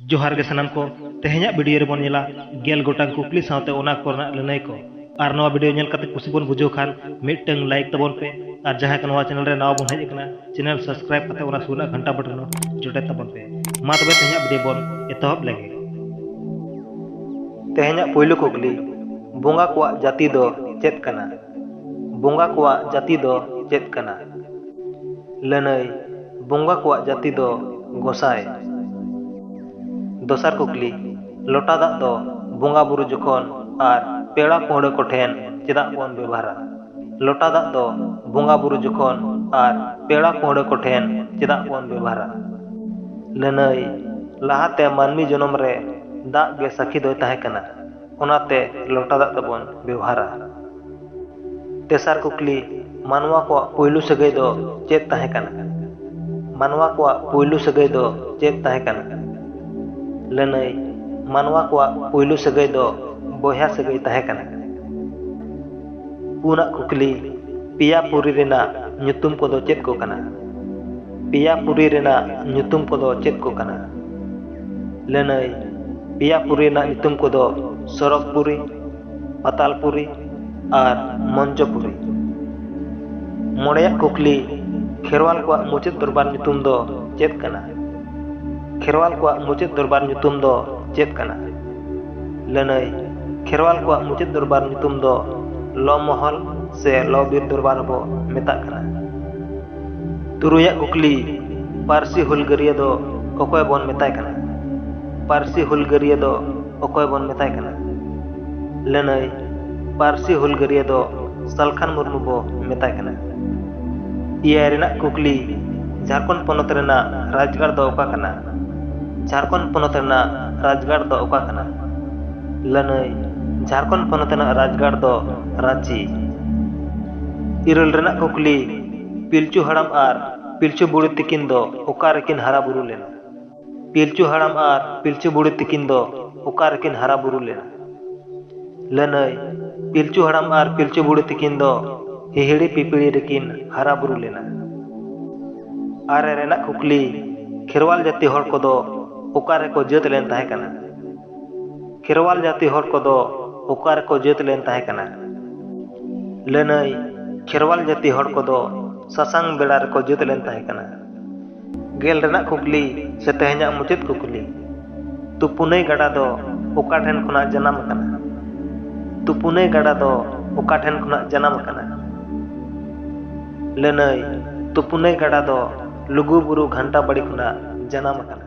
ᱡᱚᱦᱟᱨ ᱜᱮ ᱥᱟᱱᱟᱢ ᱠᱚ ᱛᱮᱦᱮᱧᱟᱜ ᱵᱷᱤᱰᱤᱭᱳ ᱨᱮᱵᱚᱱ ᱧᱮᱞᱟ ᱜᱮᱞ ᱜᱚᱴᱟᱝ ᱠᱩᱠᱞᱤ ᱥᱟᱶᱛᱮ ᱚᱱᱟ ᱠᱚᱨᱮᱱᱟᱜ ᱞᱟᱹᱱᱟᱹᱭ ᱠᱚ ᱟᱨ ᱱᱚᱣᱟ ᱵᱷᱤᱰᱤᱭᱳ ᱧᱮᱞ ᱠᱟᱛᱮ ᱠᱩᱥᱤ ᱵᱚᱱ ᱵᱩᱡᱷᱟᱹᱣ ᱠᱷᱟᱱ ᱢᱤᱫᱴᱟᱝ ᱞᱟᱭᱤᱠ ᱛᱟᱵᱚᱱ ᱯᱮ ᱟᱨ ᱡᱟᱦᱟᱸᱭ ᱠᱚ ᱱᱚᱣᱟ ᱪᱮᱱᱮᱞ ᱨᱮ ᱱᱟᱣᱟ ᱵᱚᱱ ᱦᱮᱡ ᱟᱠᱟᱱᱟ ᱪᱮᱱᱮᱞ ᱥᱟᱵᱥᱠᱨᱟᱭᱤᱵ ᱠᱟᱛᱮ ᱚᱱᱟ ᱥᱩᱨ ᱨᱮᱱᱟᱜ ᱜᱷᱟᱱᱴᱟ ᱵᱚᱴᱚᱱ ᱦᱚᱸ ᱡᱚᱴᱮᱫ ᱛᱟᱵᱚᱱ ᱯᱮ ᱢᱟ ᱛᱚᱵᱮ ᱛᱮᱦᱮᱧᱟᱜ ᱵᱷᱤᱰᱤᱭᱳ ᱵᱚᱱ ᱮᱛᱚᱦᱚᱵ ᱞᱮᱜᱮ ᱛᱮᱦᱮᱧᱟᱜ ᱯᱳᱭᱞᱳ ᱠᱩᱠᱞᱤ ᱵᱚᱸᱜᱟ ᱠᱚᱣᱟᱜ ᱡᱟᱹᱛᱤ ᱫᱚ ᱪᱮᱫ ᱠᱟᱱᱟ ᱵᱚᱸᱜᱟ ᱠᱚᱣᱟᱜ ᱡᱟᱹᱛᱤ ᱫᱚ ᱪᱮᱫ ᱠᱟᱱᱟ ᱞᱟᱹᱱᱟᱹᱭ ᱵᱚᱝᱜᱟ ᱠᱚᱣᱟᱜ ᱡᱟᱹᱛᱤ ᱫᱚ ᱜᱚᱥᱟᱭ᱾ ᱫᱚᱥᱟᱨ ᱠᱩᱠᱞᱤ, ᱞᱚᱴᱟ ᱫᱟᱜ ᱫᱚ ᱵᱚᱝᱜᱟ ᱵᱩᱨᱩ ᱡᱚᱠᱷᱚᱱ ᱟᱨ ᱯᱮᱲᱟ ᱯᱟᱹᱦᱲᱟᱹ ᱠᱚ ᱴᱷᱮᱱ ᱪᱮᱫᱟᱜ ᱵᱚᱱ ᱵᱮᱵᱷᱟᱨᱟ? ᱞᱚᱴᱟ ᱫᱟᱜ ᱫᱚ ᱵᱚᱝᱜᱟ ᱵᱩᱨᱩ ᱡᱚᱠᱷᱚᱱ ᱟᱨ ᱯᱮᱲᱟ ᱯᱟᱹᱦᱲᱟᱹ ᱠᱚ ᱴᱷᱮᱱ ᱪᱮᱫᱟᱜ ᱵᱚᱱ ᱵᱮᱵᱷᱟᱨᱟ? ᱞᱟᱹᱱᱟᱹᱭ, ᱞᱟᱦᱟ ᱛᱮ ᱢᱟᱹᱱᱢᱤ ᱡᱚᱱᱚᱢ ᱨᱮ ᱫᱟᱜ ᱜᱮ ᱥᱟᱹᱠᱷᱤ ᱫᱚᱭ ᱛᱟᱦᱮᱸ ᱠᱟᱱᱟ᱾ ᱚᱱᱟᱛᱮ ᱞᱚᱴᱟ ᱫᱟᱜ ᱫᱚᱵᱚᱱ ᱵᱮᱣᱦᱟᱨᱟ ᱛᱮᱥᱟᱨ ᱠᱩᱠᱞᱤ ᱢᱟᱱᱣᱟ ᱠᱚᱣᱟᱜ ᱯᱩᱭᱞᱩ ᱥᱟᱹᱜᱟᱹᱭ ᱫᱚ ᱪᱮᱫ ᱛᱟᱦᱮᱸ ᱠᱟᱱᱟ ᱢᱟᱱᱣᱟ ᱠᱚᱣᱟᱜ ᱯᱩᱭᱞᱩ ᱥᱟᱹᱜᱟᱹᱭ ᱫᱚ ᱪᱮᱫ ᱛᱟᱦᱮᱸ ᱠᱟᱱᱟ ᱞᱟᱹᱱᱟᱹᱭ ᱢᱟᱱᱣᱟ ᱠᱚᱣᱟᱜ ᱯᱩᱭᱞᱩ ᱥᱟᱹᱜᱟᱹᱭ ᱫᱚ ᱵᱚᱭᱦᱟ ᱥᱟᱹᱜᱟᱹᱭ ᱛᱟᱦᱮᱸ ᱠᱟᱱᱟ ᱯᱩᱱᱟᱜ ᱠᱩᱠᱞᱤ ᱯᱮᱭᱟ ᱯᱩᱨᱤ ᱨᱮᱱᱟᱜ ᱧᱩᱛᱩᱢ ᱠᱚᱫᱚ ᱪᱮᱫ ᱠᱚ ᱠᱟᱱᱟ ᱯᱮᱭᱟ ᱯᱩᱨᱤ ᱨᱮᱱᱟᱜ ᱧᱩᱛᱩᱢ ᱠᱚᱫᱚ ᱪᱮᱫ ᱠᱚ ᱠᱟᱱᱟ ᱞᱟᱹᱱᱟᱹᱭ ᱯᱮᱭᱟ ᱯᱩᱨᱤ ᱨᱮᱱᱟᱜ ᱧᱩᱛᱩᱢ ᱠᱚᱫᱚ ᱥᱚᱨᱚᱜᱽ ᱯᱩᱨᱤ, ᱯᱟᱛᱟᱞ ᱯᱩᱨᱤ ᱟᱨ ᱢᱚᱧᱡᱚ ᱯᱩᱨᱤ᱾ ᱢᱚᱬᱮᱭᱟᱜ ᱠᱩᱠᱞᱤ, ᱠᱷᱮᱨᱣᱟᱞ ᱠᱚᱣᱟᱜ ᱢᱩᱪᱟᱹᱫ ᱫᱚᱨᱵᱟᱨ ᱧᱩᱛᱩᱢ ᱫᱚ ᱪᱮᱫ ᱠᱟᱱᱟ? ᱠᱷᱮᱨᱣᱟᱞ ᱠᱚᱣᱟᱜ ᱢᱩᱪᱟᱹᱫ ᱫᱚᱨᱵᱟᱨ ᱧᱩᱛᱩᱢ ᱫᱚ ᱪᱮᱫ ᱠᱟᱱᱟ? ᱞᱟᱹᱱᱟᱹᱭ ᱠᱷᱮᱨᱣᱟᱞ ᱠᱚᱣᱟᱜ ᱢᱩᱪᱟᱹᱫ ᱫᱚᱨᱵᱟᱨ ᱧᱩᱛᱩᱢ ᱫᱚ ᱞᱚ ᱢᱚᱦᱚᱞ ᱥᱮ ᱞᱚ ᱵᱤᱨ ᱫᱚᱨᱵᱟᱨ ᱦᱚᱸ ᱵᱚ ᱢᱮᱛᱟᱜ ᱠᱟᱱᱟ᱾ ᱛᱩᱨᱩᱭᱟᱜ ᱠᱩᱠᱞᱤ ᱯᱟᱹᱨᱥᱤ ᱦᱩᱞᱜᱟᱹᱨᱤᱭᱟᱹ ᱫᱚ ᱚᱠᱚᱭ ᱵᱚᱱ ᱢᱮᱛᱟᱭ ᱠᱟᱱᱟ ᱯᱟᱹᱨᱥᱤ ᱦᱩᱞᱜᱟᱹᱨᱤᱭᱟᱹ ᱫᱚ ᱚᱠᱚᱭ ᱵᱚᱱ ᱢᱮᱛᱟᱭ ᱠᱟᱱᱟ ᱞᱟᱹᱱᱟᱹᱭ ᱯᱟᱹᱨᱥᱤ ᱦᱩᱞᱜᱟᱹᱨᱤᱭᱟᱹ ᱫᱚ ᱥᱟᱞᱠᱷᱟᱱ ᱢᱩᱨᱢᱩ ᱵᱚ ᱢᱮᱛᱟᱭ ᱠᱟᱱᱟ ᱮᱭᱟᱭ ᱨᱮᱱᱟᱜ ᱠᱩᱠᱞᱤ ᱡᱷᱟᱨᱠᱷᱚᱸᱰ ᱯᱚᱱᱚᱛ ᱨᱮᱱᱟᱜ ᱨᱟᱡᱽᱜᱟᱲ ᱫᱚ ᱚᱠᱟ ᱠᱟᱱᱟ ᱡᱷᱟᱨᱠᱷᱚᱸᱰ ᱯᱚᱱᱚᱛ ᱨᱮᱱᱟᱜ ᱨᱟᱡᱽᱜᱟᱲ ᱫᱚ ᱚᱠᱟ ᱠᱟᱱᱟ ᱞᱟᱹᱱᱟᱹᱭ ᱡᱷᱟᱨᱠᱷᱚᱸᱰ ᱯᱚᱱᱚᱛ ᱨᱮᱱᱟᱜ ᱨᱟᱡᱽᱜᱟᱲ ᱫᱚ ᱨᱟᱺᱪᱤ ᱤᱨᱟᱹᱞ ᱨᱮᱱᱟᱜ ᱠᱩᱠᱞᱤ ᱯᱤᱞᱪᱩ ᱦᱟᱲᱟᱢ ᱟᱨ ᱯᱤᱞᱪᱩ ᱵᱩᱲᱦᱤ ᱛᱤᱠᱤᱱ ᱫᱚ ᱚᱠᱟ ᱨᱮᱠᱤᱱ ᱦᱟᱨᱟ ᱵᱩᱨᱩ ᱞᱮᱱᱟ? ᱯᱤᱞᱪᱩ ᱦᱟᱲᱟᱢ ᱟᱨ ᱯᱤᱞᱪᱩ ᱵᱩᱲᱦᱤ ᱛᱤᱠᱤᱱ ᱫᱚ ᱚᱠᱟ ᱨᱮᱠᱤᱱ ᱦᱟᱨᱟ ᱵᱩᱨᱩ ᱞᱮᱱᱟ? ᱞᱟᱹᱱᱟᱹᱭ, ᱯᱤᱞᱪᱩ ᱦᱟᱲᱟᱢ ᱟᱨ ᱯᱤᱞᱪᱩ ᱵᱩᱲᱦᱤ ᱛᱤᱠᱤᱱ ᱫᱚ ᱦᱤᱦᱤᱲᱤ ᱯᱤᱯᱤᱲᱤ ᱨᱮᱠᱤᱱ ᱦᱟᱨᱟ ᱵᱩᱨᱩ ᱞᱮᱱᱟ᱾ ᱟᱨᱮ ᱨᱮᱱᱟᱜ ᱠᱩᱠᱞᱤ, ᱠᱷᱮᱨᱣᱟᱞ ᱡᱟᱹᱛᱤ ᱦᱚᱲ ᱠᱚᱫᱚ ᱚᱠᱟ ᱨᱮᱠᱚ ᱡᱟᱹᱛ ᱞᱮᱱ ᱛᱟᱦᱮᱸ ᱠᱟᱱᱟ? ᱠᱷᱮᱨᱣᱟᱞ ᱡᱟᱹᱛᱤ ᱦᱚᱲ ᱠᱚᱫᱚ ᱚᱠᱟ ᱨᱮᱠᱚ ᱡᱟᱹᱛ ᱞᱮᱱ ᱛᱟᱦᱮᱸ ᱠᱟᱱᱟ? ᱞᱟᱹᱱᱟᱹᱭ, ᱠᱷᱮᱨᱣᱟᱞ ᱡᱟᱹᱛᱤ ᱦᱚᱲ ᱠᱚᱫᱚ ᱥᱟᱥᱟᱝ ᱵᱮᱲᱟ ᱨᱮᱠᱚ ᱡᱟᱹᱛ ᱞᱮᱱ ᱛᱟᱦᱮᱸ ᱠᱟᱱᱟ᱾ ᱜᱮᱞ ᱨᱮᱱᱟᱜ ᱠᱩᱠᱞᱤ ᱥᱮ ᱛᱮᱦᱮᱧᱟᱜ ᱢᱩᱪᱟᱹᱫ ᱠᱩᱠᱞᱤ, ᱛᱩᱯᱩᱱᱟᱹᱭ ᱜᱟᱰᱟ ᱫᱚ ᱚᱠᱟ ᱴᱷᱮᱱ ᱠᱷᱚᱱᱟᱜ ᱡᱟᱱᱟᱢ ᱟᱠᱟᱱᱟ? ᱛᱩᱯᱩᱱᱟᱹᱭ ᱜᱟᱰᱟ ᱫᱚ ᱚᱠᱟ ᱴᱷᱮᱱ ᱠᱷᱚᱱᱟᱜ ᱡᱟᱱᱟᱢ ᱟᱠᱟᱱᱟ? ᱞᱟᱹᱱᱟᱹᱭ, ᱛᱩᱯᱩᱱᱟᱹᱭ ᱜᱟᱰᱟ ᱫᱚ ᱞᱩᱜᱩ ᱵᱩᱨᱩ ᱜᱷᱟᱱᱴᱟ ᱵᱟᱲᱤ ᱠᱷᱚᱱᱟᱜ ᱡᱟᱱᱟᱢ ᱟᱠᱟᱱᱟ᱾